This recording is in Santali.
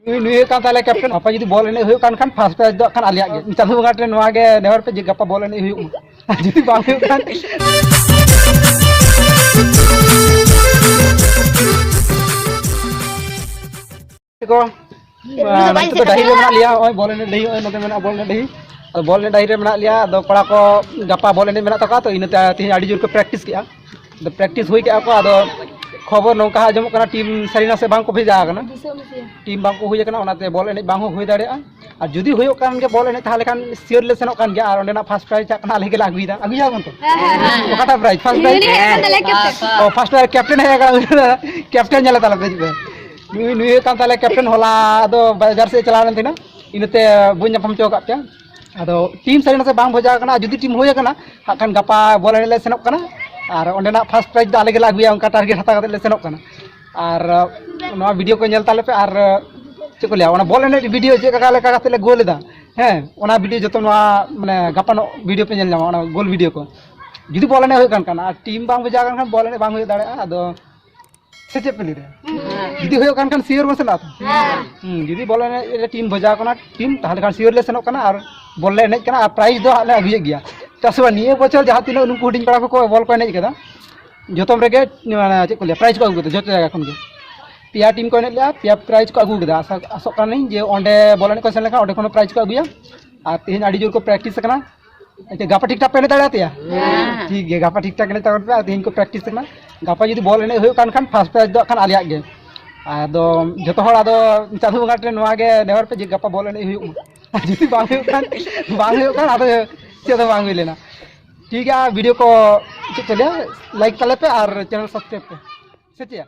ᱱᱩᱭ ᱱᱩᱭ ᱦᱩᱭᱩᱜ ᱠᱟᱱ ᱛᱟᱞᱮ ᱠᱮᱯᱴᱮᱱ ᱜᱟᱯᱟ ᱡᱩᱫᱤ ᱵᱚᱞ ᱮᱱᱮᱡ ᱦᱩᱭᱩᱜ ᱠᱟᱱ ᱠᱷᱟᱱ ᱯᱷᱟᱥᱴ ᱯᱨᱟᱭᱤᱡᱽ ᱫᱚ ᱠᱷᱟᱱ ᱟᱞᱮᱭᱟᱜ ᱜᱮ ᱪᱟᱸᱫᱳ ᱵᱚᱸᱜᱟ ᱴᱷᱮᱱ ᱱᱚᱣᱟ ᱜᱮ ᱱᱮᱦᱚᱨ ᱯᱮ ᱡᱮ ᱜᱟᱯᱟ ᱵᱚᱞ ᱮᱱᱮᱡ ᱦᱩᱭᱩᱜ ᱢᱟ ᱡᱩᱫᱤ ᱵᱟᱝ ᱦᱩᱭᱩᱜ ᱠᱷᱟᱱ ᱠᱚ ᱱᱤᱛᱚᱜ ᱫᱚ ᱰᱟᱹᱦᱤ ᱨᱮ ᱢᱮᱱᱟᱜ ᱞᱮᱭᱟ ᱱᱚᱜᱼᱚᱭ ᱵᱚᱞ ᱮᱱᱮᱡ ᱰᱟᱹᱦᱤ ᱱᱚᱜᱼᱚᱭ ᱱᱚᱛᱮ ᱢᱮᱱᱟᱜᱼᱟ ᱵᱚᱞ ᱮᱱᱮᱡ ᱰᱟᱹᱦᱤ ᱟᱫᱚ ᱵᱚᱞ ᱮᱱᱮᱡ ᱰᱟᱹᱦᱤ ᱨᱮ ᱢᱮᱱᱟᱜ ᱞᱮᱭᱟ ᱟᱫᱚ ᱠᱚᱲᱟ ᱠᱚ ᱜᱟᱯᱟ ᱵᱚᱞ ᱮᱱᱮᱡ ᱢᱮᱱᱟᱜ ᱛᱟᱠᱚᱣᱟ ᱛᱚ ᱤᱱᱟᱹᱛᱮ ᱛᱮᱦᱮᱧ ᱟᱹᱰᱤ ᱡᱳᱨ ᱠᱚ ᱯᱨᱮᱠᱴᱤᱥ ᱠᱮᱜᱼᱟ ᱯᱨᱮᱠᱴᱤᱥ ᱦᱩᱭ ᱠᱟᱜᱼᱟ ᱠᱚ ᱟᱫᱚ ᱠᱷᱚᱵᱚᱨ ᱱᱚᱝᱠᱟ ᱟᱸᱡᱚᱢᱚᱜ ᱠᱟᱱᱟ ᱴᱤᱢ ᱥᱟᱹᱨᱤᱱᱟ ᱥᱮ ᱵᱟᱝ ᱠᱚ ᱵᱷᱮᱡᱟ ᱟᱠᱟᱱᱟ ᱴᱤᱢ ᱵᱟᱝ ᱠᱚ ᱦᱩᱭ ᱟᱠᱟᱱᱟ ᱚᱱᱟᱛᱮ ᱵᱚᱞ ᱮᱱᱮᱡ ᱵᱟᱝ ᱦᱚᱸ ᱦᱩᱭ ᱫᱟᱲᱮᱭᱟᱜᱼᱟ ᱟᱨ ᱡᱩᱫᱤ ᱦᱩᱭᱩᱜ ᱠᱟᱱ ᱜᱮ ᱵᱚᱞ ᱮᱱᱮᱡ ᱛᱟᱦᱚᱞᱮ ᱠᱷᱟᱱ ᱥᱤᱭᱳᱨ ᱞᱮ ᱥᱮᱱᱚᱜ ᱠᱟᱱ ᱜᱮᱭᱟ ᱟᱨ ᱚᱸᱰᱮᱱᱟᱜ ᱯᱷᱟᱥᱴ ᱯᱨᱟᱭᱤᱡᱽ ᱪᱟᱜ ᱠᱟᱱᱟ ᱟᱞᱮ ᱜᱮᱞᱮ ᱟᱹᱜᱩᱭᱮᱫᱟ ᱟᱹᱜᱩᱭᱟᱵᱚᱱ ᱛᱚ ᱚᱠᱟᱴᱟᱜ ᱯᱨᱟᱭᱤᱡᱽ ᱯᱷᱟᱥᱴ ᱯᱨᱟᱭᱤᱡᱽ ᱚ ᱯᱷᱟᱥᱴ ᱯᱨᱟᱭᱤᱡᱽ ᱠᱮᱯᱴᱮᱱ ᱦᱮᱡ ᱟᱠᱟᱱᱟ ᱠᱮᱯᱴᱮᱱ ᱧᱮᱞ ᱛᱟᱞᱮ ᱯᱮ ᱱᱩᱭ ᱱᱩᱭ ᱦᱩᱭᱩᱜ ᱠᱟᱱ ᱛᱟᱞᱮ ᱠᱮᱯᱴᱮᱱ ᱦᱚᱞᱟ ᱫᱚ ᱵᱟᱡᱟᱨ ᱥᱮᱫ ᱪᱟᱞᱟᱣ ᱞᱮᱱ ᱛᱟᱦᱮᱱᱟ ᱤᱱᱟᱹᱛᱮ ᱵᱟᱹᱧ ᱧᱟᱯᱟᱢ ᱦᱚᱪᱚ ᱟᱠᱟᱫ ᱯᱮᱭᱟ ᱟᱫᱚ ᱴᱤᱢ ᱥᱟᱹᱨᱤ ᱱᱟᱥᱮ ᱵᱟᱝ ᱵᱷᱚᱡᱟ ᱟᱠᱟᱱᱟ ᱡᱩᱫᱤ ᱴᱤᱢ ᱦᱩᱭ ᱟᱠᱟᱱᱟ ᱦᱟᱸᱜ ᱠᱷᱟᱱ ᱜᱟᱯᱟ ᱵᱚᱞ ᱮᱱᱮᱡ ᱞᱮ ᱥᱮᱱᱚᱜ ᱠᱟᱱᱟ ᱟᱨ ᱚᱸᱰᱮᱱᱟᱜ ᱯᱷᱟᱥᱴ ᱯᱨᱟᱭᱤᱡᱽ ᱫᱚ ᱟᱞᱮ ᱜᱮᱞᱮ ᱟᱹᱜᱩᱭᱟ ᱚᱱᱠᱟ ᱴᱟᱨᱜᱮᱴ ᱦᱟᱛᱟᱣ ᱠᱟᱛᱮ ᱞᱮ ᱥᱮᱱᱚᱜ ᱠᱟᱱᱟ ᱟᱨ ᱱᱚᱣᱟ ᱵᱷᱤᱰᱤᱭᱳ ᱠᱚ ᱧᱮᱞ ᱛᱟᱞᱮ ᱯᱮ ᱟᱨ ᱪᱮᱫ ᱠᱚ ᱞᱟᱹᱭᱟ ᱚᱱᱟ ᱵᱚᱞ ᱮᱱᱮᱡ ᱵᱷᱤᱰᱤᱭᱳ ᱪᱮᱫ ᱞᱮᱠᱟ ᱞᱮᱠᱟ ᱠᱟᱛᱮ ᱞᱮ ᱜᱳᱞ ᱮᱫᱟ ᱦᱮᱸ ᱚᱱᱟ ᱵᱷᱤᱰᱤᱭᱳ ᱡᱚᱛᱚ ᱱᱚᱣᱟ ᱢᱟᱱᱮ ᱜᱟᱯᱟᱱᱚᱜ ᱵᱷᱤᱰᱤᱭᱳ ᱯᱮ ᱧᱮᱞ ᱧᱟᱢᱟ ᱚᱱᱟ ᱜᱳᱞ ᱵᱷᱤᱰᱤᱭᱳ ᱠᱚ ᱡᱩᱫᱤ ᱵᱚᱞ ᱮᱱᱮᱡ ᱦᱩᱭᱩᱜ ᱠᱟᱱ ᱠᱷᱟᱱ ᱟᱨ ᱴᱤᱢ ᱵᱟᱝ ᱵᱷᱮᱡᱟ ᱟᱠᱟᱱ ᱠᱷᱟᱱ ᱵᱚᱞ ᱮᱱᱮᱡ ᱵᱟᱝ ᱦᱩᱭ ᱫᱟᱲᱮᱭᱟᱜᱼᱟ ᱟᱫᱚ ᱥᱮ ᱪᱮᱫ ᱯᱮ ᱞᱟᱹᱭᱫᱟ ᱡᱩᱫᱤ ᱦᱩᱭᱩᱜ ᱠᱟᱱ ᱠᱷᱟᱱ ᱥᱤᱭᱳᱨ ᱵᱚᱱ ᱥᱮᱱᱚᱜᱼᱟ ᱦᱩᱸ ᱡᱩᱫᱤ ᱵᱚᱞ ᱮᱱᱮᱡ ᱴᱤᱢ ᱵᱷᱮᱡᱟ ᱠᱟᱱᱟ ᱴᱤᱢ ᱛᱟᱦᱚᱞᱮ ᱠᱷᱟᱱ ᱥᱤᱭᱳᱨ ᱞᱮ ᱥᱮᱱᱚᱜ ᱠᱟᱱᱟ ᱟᱨ ᱵᱚᱞ ᱞᱮ ᱮᱱᱮᱡ ᱠᱟᱱᱟ ᱟᱨ ᱯᱨᱟᱭᱤᱡᱽ ᱫᱚ ᱦᱟᱸᱜ ᱞᱮ ᱟᱹᱜᱩᱭᱮᱫ ᱜᱮᱭᱟ ᱪᱮᱫᱟᱜ ᱥᱮ ᱵᱟᱝ ᱱᱤᱭᱟᱹ ᱵᱚᱪᱷᱚᱨ ᱡᱟᱦᱟᱸ ᱛᱤᱱᱟᱹᱜ ᱱᱩᱠᱩ ᱦᱩᱰᱤᱧ ᱠᱚᱲᱟ ᱠᱚᱠᱚ ᱵᱚᱞ ᱠᱚ ᱮᱱᱮᱡ ᱠᱟᱫᱟ ᱡᱚᱛᱚᱢ ᱨᱮᱜᱮ ᱢᱟᱱᱮ ᱪᱮᱫ ᱠᱚ ᱞᱟᱹᱭᱟ ᱯᱨᱟᱭᱤᱡᱽ ᱠᱚ ᱟᱹᱜᱩ ᱠᱟᱫᱟ ᱡᱚᱛᱚ ᱡᱟᱭᱜᱟ ᱠᱷᱚᱱ ᱜᱮ ᱯᱮᱭᱟ ᱴᱤᱢ ᱠᱚ ᱮᱱᱮᱡ ᱞᱮᱜᱼᱟ ᱯᱮᱭᱟ ᱯᱨᱟᱭᱤᱡᱽ ᱠᱚ ᱟᱹᱜᱩ ᱠᱟᱫᱟ ᱟᱥᱚᱜ ᱠᱟᱹᱱᱟᱹᱧ ᱡᱮ ᱚᱸᱰᱮ ᱵᱚᱞ ᱮᱱᱮᱡ ᱠᱚ ᱥᱮᱱ ᱞᱮᱱᱠᱷᱟᱱ ᱚᱸᱰᱮ ᱠᱷᱚᱱ ᱦᱚᱸ ᱯᱨᱟᱭᱤᱡᱽ ᱠᱚ ᱟᱹᱜᱩᱭᱟ ᱟᱨ ᱛᱮᱦᱮᱧ ᱟᱹᱰᱤ ᱡᱳᱨ ᱠᱚ ᱯᱨᱮᱠᱴᱤᱥ ᱠᱟᱱᱟ ᱟᱪᱪᱷᱟ ᱜᱟᱯᱟ ᱴᱷᱤᱠ ᱴᱷᱟᱠ ᱯᱮ ᱮᱱᱮᱡ ᱫᱟᱲᱮ ᱟᱛᱮᱭᱟ ᱴᱷᱤᱠ ᱜᱮᱭᱟ ᱜᱟᱯᱟ ᱴᱷᱤᱠ ᱴᱷᱟᱠ ᱮᱱᱮᱡ ᱛᱟᱵᱚᱱ ᱯᱮ ᱟᱨ ᱛᱮᱦᱮᱧ ᱠᱚ ᱯᱨᱮᱠᱴᱤᱥ ᱠᱟᱱᱟ ᱜᱟᱯᱟ ᱡᱩᱫᱤ ᱵᱚᱞ ᱮᱱᱮᱡ ᱦᱩᱭᱩᱜ ᱠᱟᱱ ᱠᱷᱟᱱ ᱯᱷᱟᱥᱴ ᱯᱨᱟᱭᱤᱡᱽ ᱫᱚ ᱠᱷᱟᱱ ᱟᱞᱮᱭᱟᱜ ᱜᱮ ᱟᱫᱚ ᱡᱚᱛᱚ ᱦᱚᱲ ᱟᱫᱚ ᱪᱟᱸᱫᱳ ᱵᱚᱸᱜᱟ ᱴᱷᱮᱱ ᱱᱚᱣᱟ ᱜᱮ ᱱᱮᱦᱚᱨ ᱯᱮ ᱡᱮ ᱜᱟᱯᱟ ᱵᱚᱞ ᱮᱱᱮᱡ ᱦᱩᱭᱩᱜ ᱢᱟ ᱡᱩᱫᱤ ᱵᱟᱝ ᱦᱩᱭᱩᱜ ᱠᱷᱟᱱ ᱵᱟᱝ ᱦᱩᱭᱩᱜ ᱠᱷᱟᱱ ᱟᱫᱚ ᱪᱮᱫ ᱦᱚᱸ ᱵᱟᱝ ᱦᱩᱭ ᱞᱮᱱᱟ ᱴᱷᱤᱠ ᱜᱮᱭᱟ ᱵᱷᱤᱰᱤᱭᱳ ᱠᱚ ᱪᱮᱫ ᱠᱚ ᱞᱟᱹᱭᱟ ᱞᱟᱭᱤᱠ ᱛᱟᱞᱮ ᱯᱮ ᱟᱨ ᱪᱮᱱᱮᱞ ᱥᱟᱵᱥᱠᱨᱟᱭᱤᱵ ᱯᱮ ᱥᱮ ᱪᱮᱫ